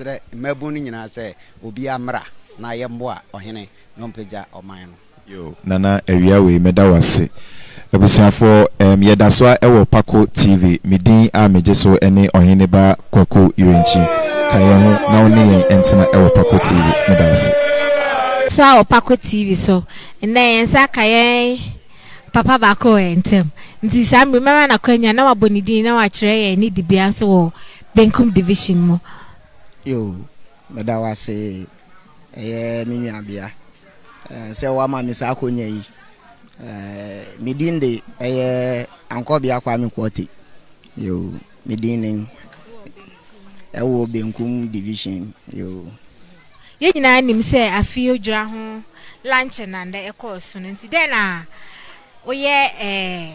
srɛ mmabun no nyinaa sɛ obiara mmra na yɛmmoa ɔhene na ɔmpagya ɔman no. Yoo Nana awia wei meda wo ase. Abusuafoɔ ɛɛm yɛdasoa wɔ Pako TV me din a megye so ne Ɔhene ba Kwaku Yirinkyi ka yɛn ho na wo ne yɛn ntena wɔ Pako TV meda wo ase. Soa wɔ Pako TV so nnɛ yɛn nsa aka yɛn papa baako wɔ yɛn ntam nti saa mmere mɛma no akwanya na wabɔ ne din na wakyerɛ yɛn ne dibea nso wɔ Benkum Division mu. Yo, meda wo ase, ɛyɛ me nuabea, sɛ woama me saa akonya yi. Me din de ɛyɛ Ankɔbea Kwame Quartey. Yo, me din ne ɛwɔ Benkum Division. Yo. Yɛn nyinaa nim sɛ afe odwira ho lankyɛ na nnɛ ɛkɔɔ so no nti, dɛn na woyɛ ɛɛ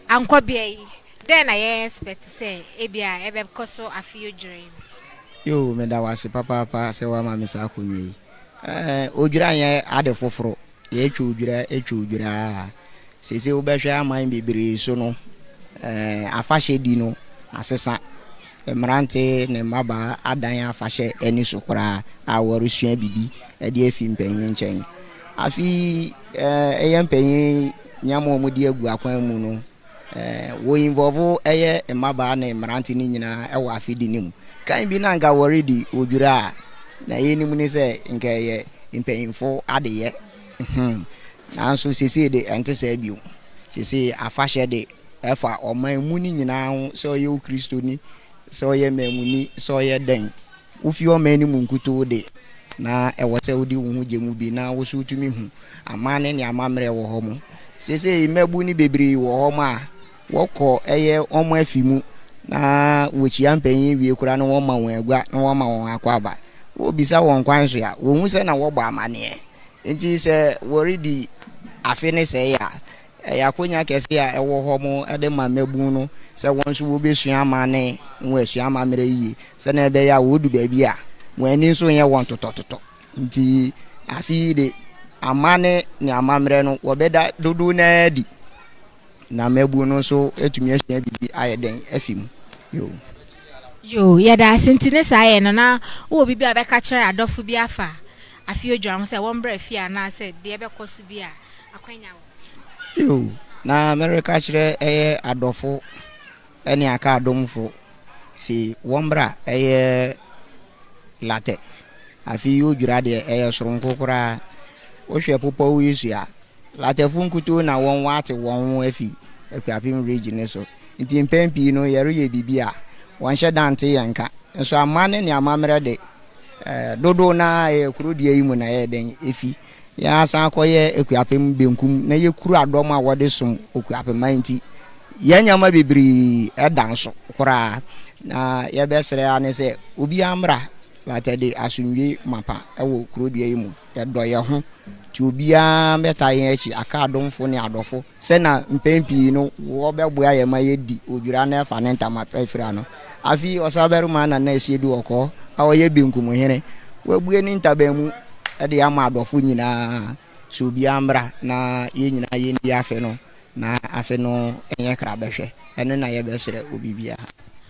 Ankɔbea yi Dɛn na yɛ expect sɛ ebia ɛbɛkɔ so afe odwira yi mu? Yoo, meda wo ase papaapa sɛ woama me saa akonnwa yi. Ɛɛ, odwira nyɛ ade foforo. Yɛtwa odwira, twa odwira ara. Seesei wobɛhwɛ aman bebree so no, ɛɛ, afahyɛdi no asesa. Mmerante ne mmabaa adan afahyɛ ani so koraa a wɔresua biribi de afi mpanyin nkyɛn. Afei ɛɛ, ɛyɛ mpanyin nneɛma a wɔde agu akwan mu no, Wɔ involve ɛyɛ mmabaa ne mmerante no nyinaa wɔ afidi no mu. Kan bi na anka wɔredi odwira a na yɛnim ne sɛ nka ɛyɛ mpanyinfo adeyɛ. Hmm. Nanso sesei de ɛnte saa bio. Sesei afahyɛ de ɛfa ɔman mu no nyinaa ho sɛ ɔyɛ wo Kristoni, sɛ ɔyɛ maamuni, sɛ ɔyɛ dɛn. Wufi ɔman no mu nkutoo de, na ɛwɔ sɛ wode wo ho gye mu bi na wo so wutumi hu amanne ne amammerɛ wɔ hɔ mo. Seesei mmabun no bebree wɔ hɔ mo a, wɔkɔ ɛyɛ wɔn afi mu na wokyia mpanyin wie koraa na wɔma wɔn agua na wɔma wɔn akwaaba. Wobisa wɔn kwan so a, wohu sɛ na wɔbɔ amanneɛ. Enti sɛ wɔredi afe no sɛɛ a, Ɛyɛ akwannya kɛse a ɛwɔ hɔ mo de ma mmabun no sɛ wɔn nso wobesua amanne na wɔasua amammerɛ yiye sɛnea ɛbɛyɛ a wodu baabi a, wɔn ani nso renyɛ wɔn totɔtotɔ. Enti, afe yi de, amanne ne amammerɛ no, wɔbɛda dodow no ara adi na mmabun no nso atumi asua biribi ayɛ dɛn afi mu. Yoh. Yoh. Yɛda ase nti ne saa yɛ no na wowɔ biribi a wobɛka akyerɛ adɔfo bi afa Afei odwira ho sɛ wɔmmra fie anaasɛ deɛ ɛbɛkɔ so bi a, akwanya wɔ hɔ. Yiw, na mereka akyerɛ ɛyɛ adɔfo ne aka adomfo se wɔmmra ɛyɛ latɛ. Afei odwira deɛ ɛyɛ soronko koraa. Wohwɛ popɔw yi so a, latɛfo nkutoo na wɔn wɔate wɔn ho afi Akuapem Ridge no so. Nti mpɛn pii no yɛreyɛ biribi a, wɔnhyɛ da nte yɛn nka. Nso aman ne amammerɛ de, dodow no ara a ɛyɛ kurow dua yi mu na ɛyɛ dɛn efi. Yɛasan akɔyɛ Akuapem benkum na yekura dɔm a wɔde som Okuapem a enti yɛn nneɛma bebree da nso koraa. Na yɛbɛsrɛ ara ne sɛ obiara mmra Latter-day asomdwoe mapa wɔ kurow dua yi mu. Yɛdɔ yɛn ho, nti obiara bɛtaa yɛn akyi aka adomfo ne adɔfo sɛ na mpɛn pii no wɔbɛboa yɛn ma yɛadi odwira na ɛfa ne ntama pa afiri ano. Afei ɔsabarima Nana Asiedu Ɔkɔɔ a ɔyɛ benkum hene, wabue ne ntaban mu de ama adɔfo nyinaa sɛ obiara mmra na yɛn nyinaa yɛndi afe no. Na afe no ɛnyɛ kra bɛhwɛ ɛno na yɛ bɛ srɛ obi biaa.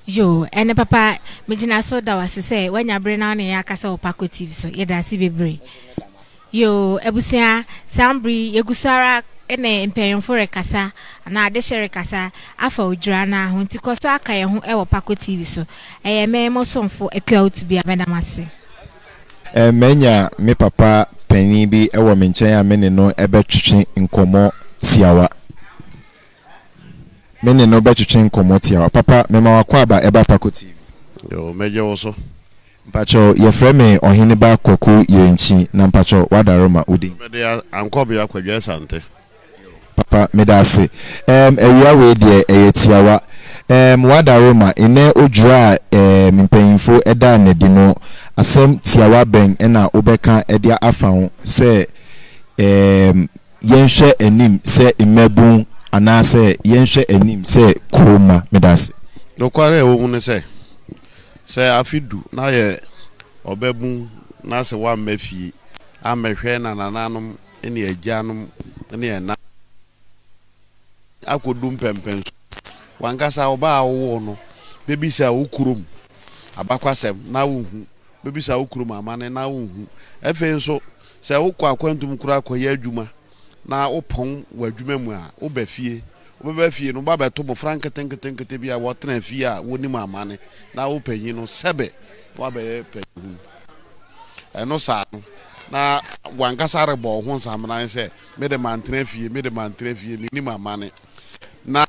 Yoo ɛne papa megyina so da wo ase sɛ wanya bere na wo ne yɛn akasa wɔ Paco TV so yɛda ase bebree yoo abusua saa mbre yi yɛgu so ara ne mpanyinfo rekasa anaa adehye rekasa afa odwira no ara ho nti kɔ so aka yɛn ho wɔ Paco TV so ɛyɛ me mo somfo Akua Otubia meda mo ase. Manya me papa panin bi wɔ me nkyɛn a me ne no bɛtwetwe nkɔmmɔ tiawa. Me ne no bɛtwetwe nkɔmmɔ tiawa. Papa, mema w'akwaaba ɛba Pako TV. Yoo, mɛgye wo so. Mpakyɛw, yɛfrɛ me Ɔheneba Kwaku Yerinkyi, na mpakyɛw, w'adarema, wo din? Mede Ankɔbea Kwadwo Asante. Papa meda ase ɛɛm awia wei deɛ ɛyɛ tiawa ɛɛm wada Roma nnɛ odwira a ɛɛm mpanyinfo ɛdaa no adi no asɛm tiawa bɛn ɛna wobɛka ɛde afa ho sɛ ɛɛm yɛnhwɛ anim sɛ mmabun anaa sɛ yɛnhwɛ anim sɛ kurom mma meda ase. Nokware a ɛwɔ mu ne sɛ, sɛ afe du na ayɛ ɔbabun na sɛ wamma fie ammɛhwɛ na nananom ne agyanom ne ɛna akɔdu mpɛmpɛn so. W'ankasa wo ba a wowoo no bɛbisa wo kurom abakwasɛm na wonhu, bɛbisa wo kurom amanne na wonhu. Afei nso, sɛ wokɔ akwantu mu koraa kɔyɛ adwuma na wopɔn wɔ adwuma mu a, woba fie. Wobɛba fie no, wo ba bɛto mmɔfra nketenketenkete bi a wɔtena fie a wɔnim amanne na wopanyin no sɛbe na woabɛyɛ panyinhunu. Ɛno saa no, na w'ankasa rebɔ wo ho nsameran sɛ, Me de mantena fie, me de mantena fie, mennim amane. Na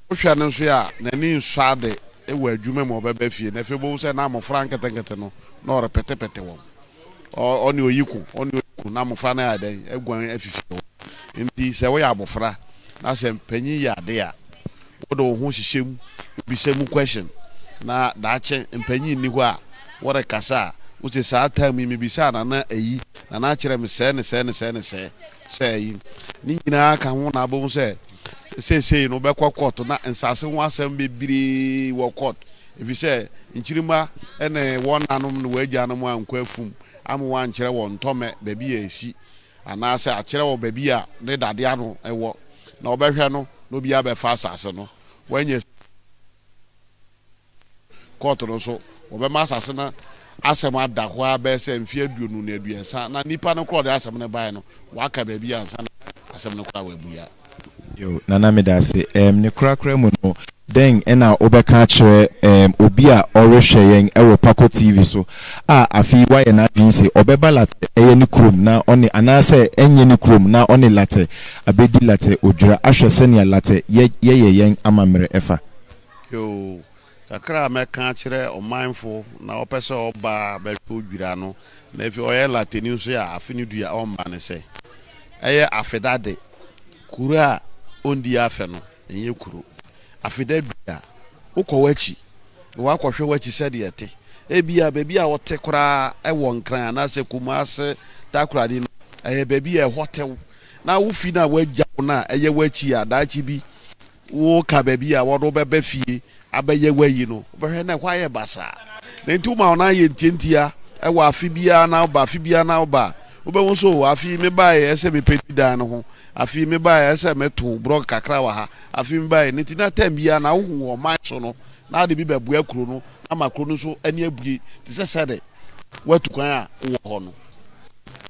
wohwɛ no nso a, n'ani nsɔ ade wɔ adwuma mu a ɔbɛba fie no. Afei wobɛhu sɛ na mmofra nketenkete no, na ɔrepetepete wɔn. Ɔne oyi ko, ɔne oyi ko, na mmofra no ayɛ dɛn? Aguan afi fie hɔ. Enti sɛ woyɛ abofra, na sɛ mpanyin yɛ ade a, Wɔde wo ho hyehyɛ mu, wobisa mu question, na daakye mpanyin nni hɔ a wɔrekasa a, wose saa time yi mibisaa Nana eyi, Nana akyerɛ me sɛɛ ne sɛɛ ne sɛɛ ne sɛɛ, sɛ eyi. Ne nyinaa ka ho na abɛhu sɛ seesei no wobɛkɔ court na nsase ho asɛm bebree wɔ court efisɛ nkyirimma ne wɔn nanom ne wɔn agyanom ankɔ afum ama wɔankyerɛ wɔn ntɔmɛ baabi a esi Anaasɛ akyerɛ wɔ baabi a ne dade ano wɔ, na wɔbɛhwɛ no na obiara bɛfa asase no. Wɔanya sika no adi. Kɔɔto no nso, wɔbɛma asase no asɛm ada hɔ ara bɛyɛ sɛ mfe aduonu ne aduasa, na nnipa no korɔ a wɔde asɛm no bae no, wɔaka baabi ansa na asɛm no koraa wɔabua. Yo, Nana Medase, ɛɛm ne korakora mu no, dɛn na wobɛka akyerɛ ɛɛm obi a ɔrehwɛ yɛn wɔ Pako TV so a afe yi wayɛ n'adwene se ɔbɛba Latɛ ɛyɛ ne kurom na ɔne anaasɛ ɛnyɛ ne kurom na ɔne Latɛ abɛdi Latɛ odwira ahwɛ sɛnea Latɛ yɛ yɛyɛ yɛn amammerɛ ɛfa? Yo, Kakra a mɛka akyerɛ ɔmanfo na ɔpɛ sɛ ɔba bɛhwɛ odwira no, na afei ɔyɛ Latini nso a, afe no du a, ɔmma ne sɛ, ɛyɛ Afedade, kuro a ɔndi afe no, ɛnyɛ kuro. Afeda du a, wokɔ w'akyi na woakɔhwɛ w'akyi sɛdeɛ ɛte. Ebia baabi a wote koraa ɛwɔ Nkran anaasɛ Kumase, Takoradi no, ɛyɛ baabi a ɛhɔ tew, na wo fi no a wɔagya wo no a ɛyɛ w'akyi a, daakye bi woreka baabi a wɔde wo bɛba fie abɛyɛ w'ayi no, wobɛhwɛ na ɛhɔ ayɛ basaa. Na enti woma wɔn ayɛ ntiantia wɔ afe biara na woba, afe biara na woba a, wobɛhu nso o, afe yi mebaeɛ ɛyɛ sɛ mepenti dan no ho, afe yi mebaeɛ ɛyɛ sɛ meto brɔg kakra wɔ ha, afe yi mebaeɛ. Na enti na tɛm biara na wohu wɔ ɔman so no, na ade bi bɛboa kuro no na ama kuro no nso ani abue te sɛ sɛdeɛ woatu kwan a wowɔ hɔ no.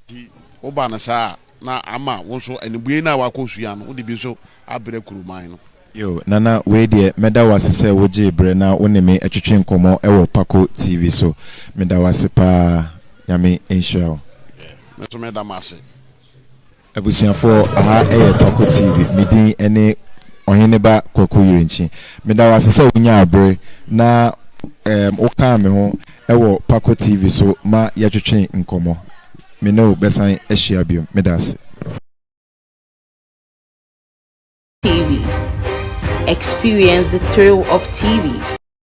Enti woba no saa a. Na ama wo nso animbue no a woakɔ sua no, wode bi nso abrɛ Kuruman no. Yo, Nana, wei deɛ mɛda wo ase sɛ wogyee berɛ na wo ne me twetwee nkɔmmɔ wɔ Pako TV so. Meda wo ase paa. Nyame nhyira wo. Yeah, me nso meda mo ase. Abusuafoɔ, aha yɛ Pako TV. Me din ne Ɔheneba Kwaku Yirinkyi. Meda wo ase sɛ wonyaa bere na ɛɛm wokaa me ho wɔ Pako TV so ma yɛtwetwee nkɔmmɔ. Me ne wo bɛsan ahyia bio. Meda ase. TV, experience the thrill of TV.